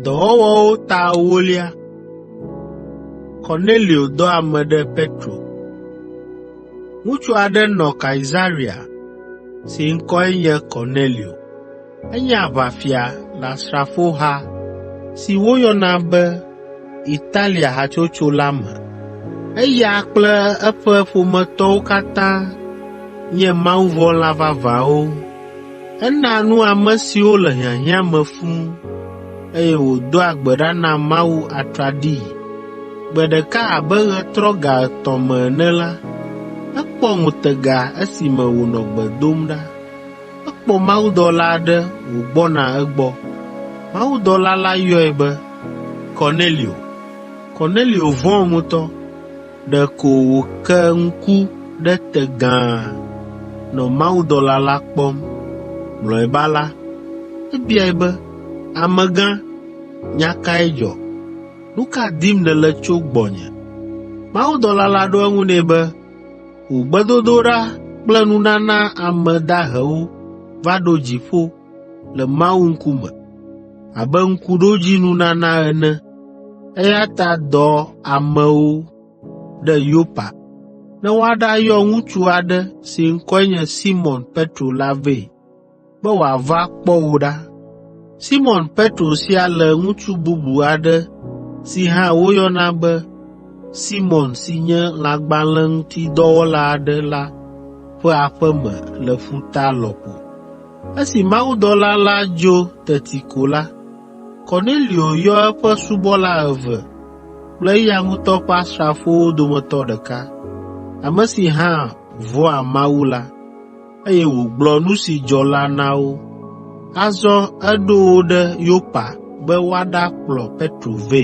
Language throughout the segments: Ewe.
Dɔwɔwɔwo ta ewolia. Kornelio dɔ ame ɖe Petro. Ŋutsu aɖe nɔ Kaesarea si ŋkɔe nye Kornelio. Enye aʋafia le asrafoha si woyɔna be Italia hatsotso la me. Eya kple eƒe ƒometɔwo katã nye mawuvɔ̃la vavãwo Enaa nu ame siwo le hiahiã me fũu, eye wòdoa gbe ɖa na Mawu atraɖii. Gbe ɖeka abe ɣetrɔ ga etɔ̃ me ene la, ekpɔ ŋutega esime wònɔ gbe dom ɖa. Ekpɔ mawudɔla aɖe wògbɔna egbɔ. Mawudɔla la yɔe be, ‘Kornelio!’ Kornelio vɔ̃ ŋutɔ, Ɖeko wòke ŋku ɖe te gãa nɔ mawudɔla la kpɔm. Mlɔeba la, ebiae be, “Amegã, nya kae dzɔ? Nu ka dim nèle tso gbɔnye?” Mawudɔla la ɖo eŋu nɛ be, “Wò gbedodoɖa kple nunana ame dahewo va ɖo dziƒo, le Mawu ŋkume, abe ŋkuɖodzinunana ene. Eya ta dɔ amewo ɖe Yopa ne woaɖayɔ ŋutsu aɖe si ŋkɔe nye Simɔn Petro la vɛ be wòava kpɔ wò ɖa. Simɔn Petro sia le ŋutsu bubu aɖe si hã woyɔna be Simɔn si nye lãgbalẽŋutidɔwɔla aɖe la ƒe aƒe me le ƒuta lɔƒo.’ Esi mawudɔla la dzo teti ko la, Kornelio yɔ eƒe subɔla eve kple eya ŋutɔ ƒe asrafowo dometɔ ɖeka, ame si hã vɔ̃a Mawu la, eye wògblɔ nu si dzɔ la na wo. Azɔ eɖo wo ɖe Yopa be woaɖakplɔ Petro vɛ.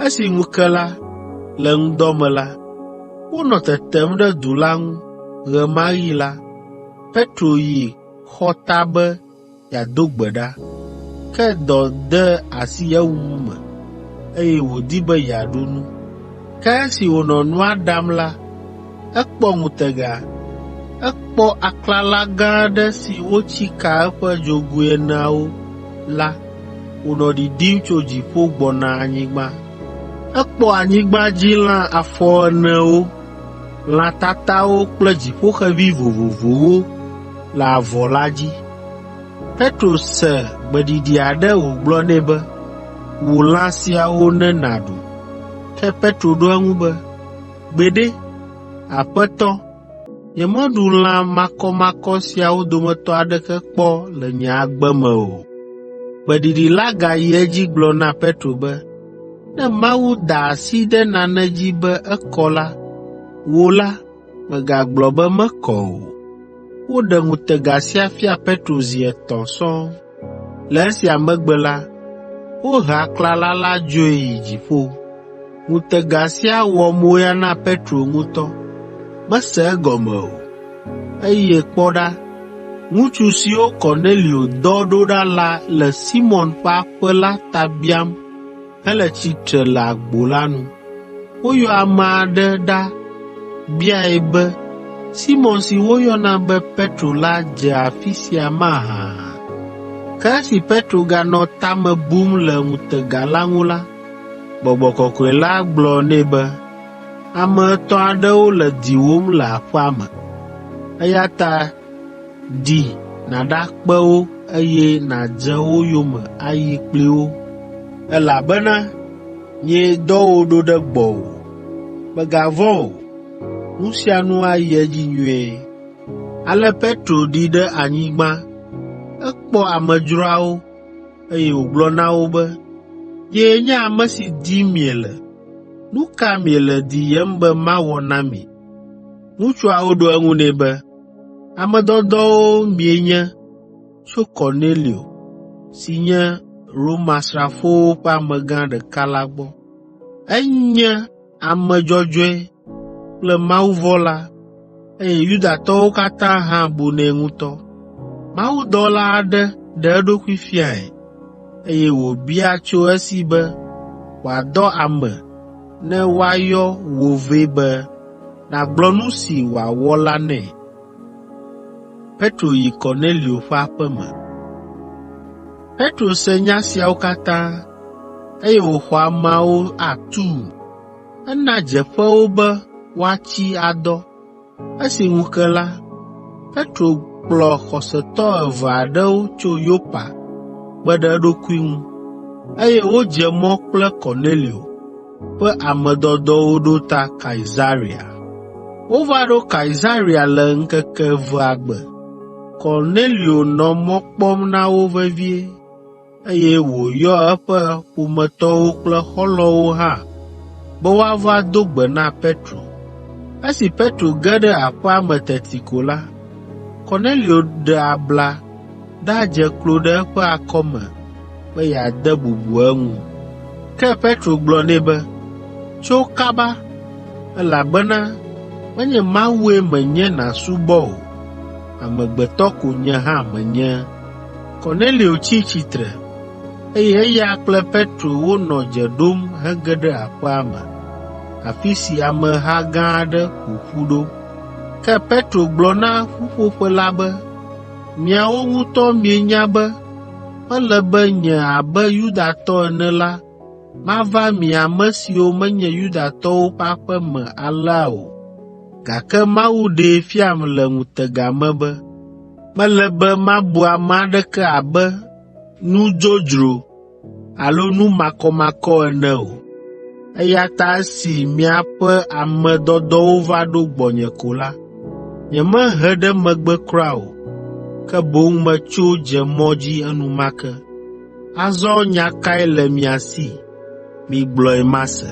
Esi ŋu ke la, le ŋdɔ me la, Wonɔ tetem ɖe du la ŋu ɣe ma ɣi la, Petro yi xɔ ta be yeado gbe ɖa. Ke dɔ de asi ewuwu me, eye wòdi be yeaɖu nu. Ke esi wònɔ nua ɖam la, ekpɔ ŋutega. Ekpɔ aklala gã aɖe si wotsi ka eƒe dzogoe eneawo la wònɔ ɖiɖim tso dziƒo gbɔna anyigba. Ekpɔ anyigbadzilã afɔenewo, lã tatawo kple dziƒoxevi vovovowo le avɔ la dzi. Petro se gbeɖiɖi aɖe wògblɔ nɛ be, “Wu lã siawo ne nàɖu.” Ke Petro ɖo eŋu be, “Gbeɖe, Aƒetɔ!” Nyemeɖu lã makɔmakɔ siawo dometɔ aɖeke kpɔ le nye agbe me o.” Gbeɖiɖi la gayi edzi gblɔ na Petro be, “Ne Mawu da asi ɖe nane dzi be ekɔ la, wò la, mègagblɔ be mekɔ o.” Woɖe ŋutega sia fia Petro zi etɔ̃ sɔŋ. Le esia megbe la, wohe aklala la dzoe yi dziƒo. Ŋutega sia wɔ moya na Petro ŋutɔ. Mese egɔme o, eye kpɔ ɖa, ŋutsu siwo Kornelio dɔ ɖo ɖa la le Simɔn ƒe aƒe la ta biam hele tsitre le agbo la nu. Woyɔ ame aɖe ɖa biae be, “Simɔn si woyɔna be Petro la dze afi sia mahã?” Ke esi Petro ganɔ ta me bum le ŋutega la ŋu la, Gbɔgbɔ Kɔkɔe la gblɔ nɛ be, “Ame etɔ̃ aɖewo le diwòm le aƒea me, eya ta Di nàɖakpe wo, eye nàdze wo yome ayi kpli wo, elabena nyee dɔ wò ɖo ɖe gbɔwò. Mègavɔ̃ o, nu sia nu ayi edzi nyuie.” Ale Petro ɖi ɖe anyigba. Ekpɔ amedzroawo, eye wògblɔ na wo be, “Nyee nye ame si dim miele. Nu ka miele diyem be mawɔ na mi?” Ŋutsuawo ɖo eŋu nɛ be, “Ame dɔdɔwo mienye tso Kornelio, si nye Romasrafowo ƒe amegã ɖeka la gbɔ. Enye ame dzɔdzɔe kple mawuvɔ̃la, eye Yudatɔwo katã hã bunɛ ŋutɔ. Mawudɔla aɖe ɖe eɖokui fiae, eye wòbia tso esi be wòadɔ ame ne woayɔ wò vɛ be nàgblɔ nu si wòawɔ la nɛ. Petro yi Kornelio ƒe aƒe me. Petro se nya siawo katã, eye wòxɔ ameawo atuu. Ena dzeƒe wo be woatsi adɔ, Esi ŋu ke la, Petro kplɔ xɔsetɔ eve aɖewo tso Yopa kpe ɖe eɖokui ŋu, eye wodze mɔ kple Kornelio ƒe ame dɔdɔwo ɖo ta Kaesarea. Wova ɖo Kaesarea le ŋkeke evea gbe. Kornelio nɔ mɔ kpɔm na wo vevie, eye wòyɔ eƒe ƒometɔwo kple xɔlɔ̃wo hã be woava do gbe na Petro. Esi Petro ge ɖe aƒea me teti ko la, Kornelio ɖe abla ɖadze klo ɖe eƒe akɔme be yeade bubu eŋu. Ke Petro gblɔ nɛ be, “Tso kaba, elabena menye Mawue menye nàsubɔ o, amegbetɔ ko nye hã menye.” Kornelio tsi tsitre, eye eya kple Petro wonɔ dze ɖom hege ɖe aƒea me, afi si ameha gã aɖe ƒo ƒu ɖo. Ke Petro gblɔ na ƒuƒoƒe la be, “Miawo ŋutɔ mienya be mele be nye abe Yudatɔ ene la mava mi ame siwo menye Yudatɔwo ƒe aƒe me alea o, gake Mawu ɖee fiam le ŋutega me be Mele be mabu ame aɖeke abe nu dzodzro alo nu makɔmakɔ ene o, eya ta esi miaƒe ame dɔdɔwo va ɖo gbɔnye ko la, nyemehe ɖe megbe kura o, ke boŋ metso dze mɔ dzi enumake. Azɔ nya kae le mia si? migblɔe mase.”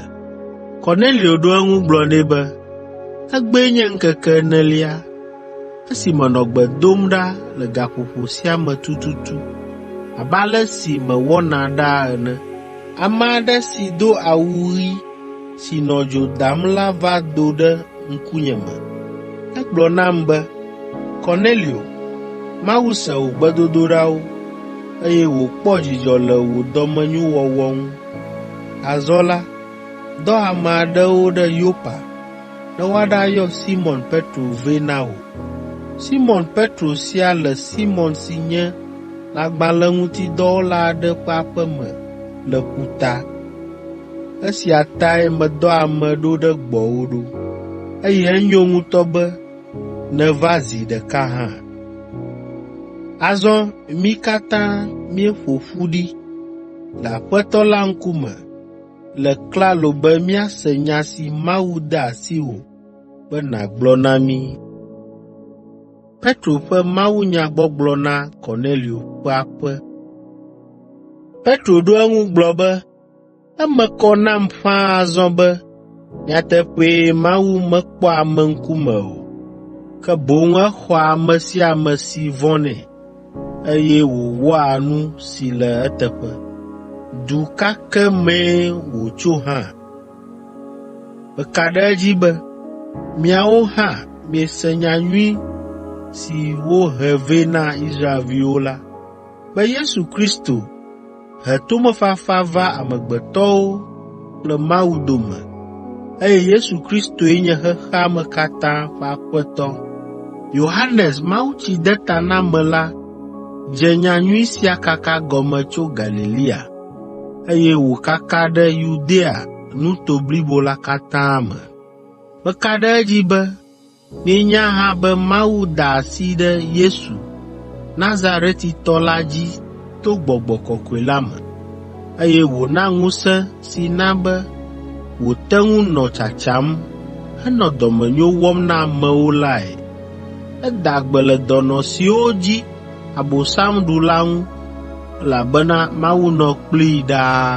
Kornelio ɖo eŋu gblɔ nɛ be, “Egbee nye ŋkeke enelia esi menɔ gbe dom ɖa le gaƒoƒo sia me tututu abe ale si mewɔna ɖaa ene. Ame aɖe si do awu ɣi si nɔ dzo dam la va do ɖe ŋkunye me. Egblɔ nam be, ‘Kornelio, Mawu se wò gbedodoɖawo, eye wòkpɔ dzidzɔ le wò dɔmenyowɔwɔ ŋu. Azɔ la, dɔ ame aɖewo ɖe Yopa ne woaɖayɔ Simɔn Petro vɛ na wò. Simɔn Petro sia le Simɔn si nye lãgbalẽŋutidɔwɔla aɖe ƒe aƒe me le ƒuta.’ Esia tae medɔ ame ɖo ɖe gbɔwò ɖo, eye enyo ŋutɔ be nèva zi ɖeka hã. Azɔ mí katã míeƒo ƒu ɖi le Aƒetɔ la ŋkume le klalo be míase nya si Mawu de asiwò be nàgblɔ na mí.” Petro ɖo eŋu gblɔ be, Eme kɔ nam ƒãa azɔ be nyateƒee Mawu mekpɔa ame ŋkume o, ke boŋ exɔa ame sia ame si vɔ̃nɛ, eye wòwɔa nu si le eteƒe. Du ka ke mee wòtso hã? Meka ɖe edzi be miawo hã miese nya nyui si wohe vɛ na Israelviwo la, be Yesu Kristo he tomefafa va amegbetɔwo kple Mawu dome, eye Yesu Kristoe nye xexea me katã ƒe Aƒetɔ. Yohanes Mawutsidetanamela dze nyanyui sia kaka gɔme tso Galilea, eye wòkaka ɖe Yudea nuto blibo la katã me. Meka ɖe edzi be Míenya hã be Mawu da asi ɖe Yesu, Nazaretitɔ la dzi to Gbɔgbɔ Kɔkɔe la me, eye wòna ŋusẽ si na be wòte ŋu nɔ tsatsam henɔ dɔmenyo wɔm na amewo lae. Eda gbe le dɔnɔ siwo dzi Abosam ɖu la ŋu, elabena Mawu nɔ kplii ɖaa.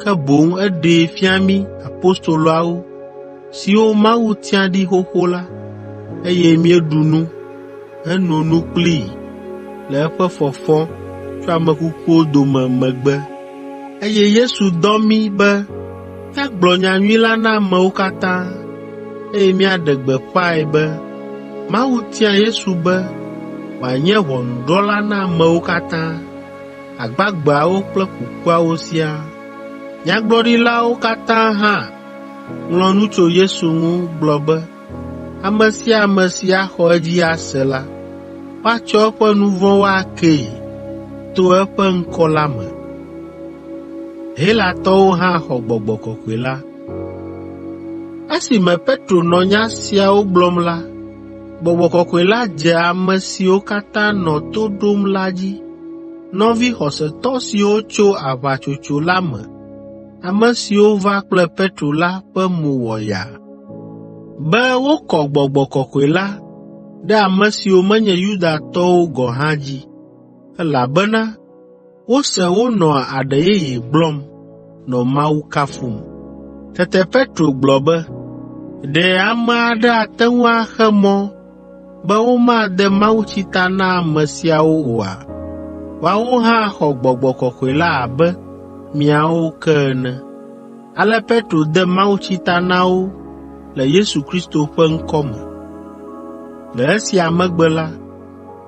ke boŋ eɖee fia mí apostoloawo, siwo Mawu tia ɖi xoxo la, eye míeɖu nu heno nu kplii le eƒe fɔfɔ tso ame kukuwo dome megbe. Eye Yesu dɔ mí be míagblɔ nyanyui la na amewo katã, eye míaɖe gbeƒãe be Mawu tia Yesu be wòanye ʋɔnudrɔ̃la na amewo katã. agbagbeawo kple kukuawo siaa. Nyagblɔɖilawo katã hã ŋlɔ nu tso Yesu ŋu gblɔ be, “Ame sia ame si axɔ edzi ase la, woatsɔ eƒe nu vɔ̃wo akee to eƒe ŋkɔ la me.” Helatɔwo hã xɔ gbɔgbɔ kɔkɔe la. Esime Petro nɔ nya siawo gblɔm la, Gbɔgbɔ Kɔkɔe la dze ame siwo katã nɔ to ɖom la dzi. Nɔvi xɔsetɔ siwo tso aʋatsotso la me, ame siwo va kple Petro la ƒe mo wɔ yaa be wokɔ Gbɔgbɔ Kɔkɔe la ɖe ame siwo menye Yudatɔwo gɔ̃ hã dzi, elabena wose wonɔa aɖe yeye gblɔm nɔ Mawu kafum. Tete Petro gblɔ be, “Ɖe ame aɖe ate ŋu axe mɔ be womade mawutsi ta na ame siawo oa? Woawo hã xɔ Gbɔgbɔ Kɔkɔe la abe míawo ke ene.” Ale Petro de mawutsi ta na wo le Yesu Kristo ƒe ŋkɔ me. Le esia megbe la,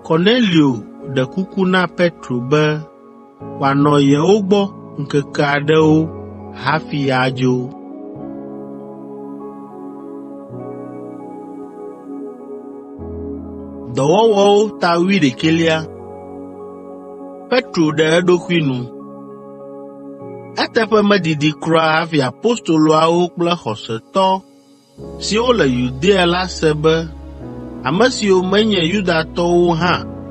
Kornelio ɖe kuku na Petro be wòanɔ yewo gbɔ ŋkeke aɖewo hafi adzo. Petro ɖe eɖokui nu Eteƒe medidi kura hafi apostoloawo kple xɔsetɔ siwo le Yudea la se be ame siwo menye Yudatɔwo hã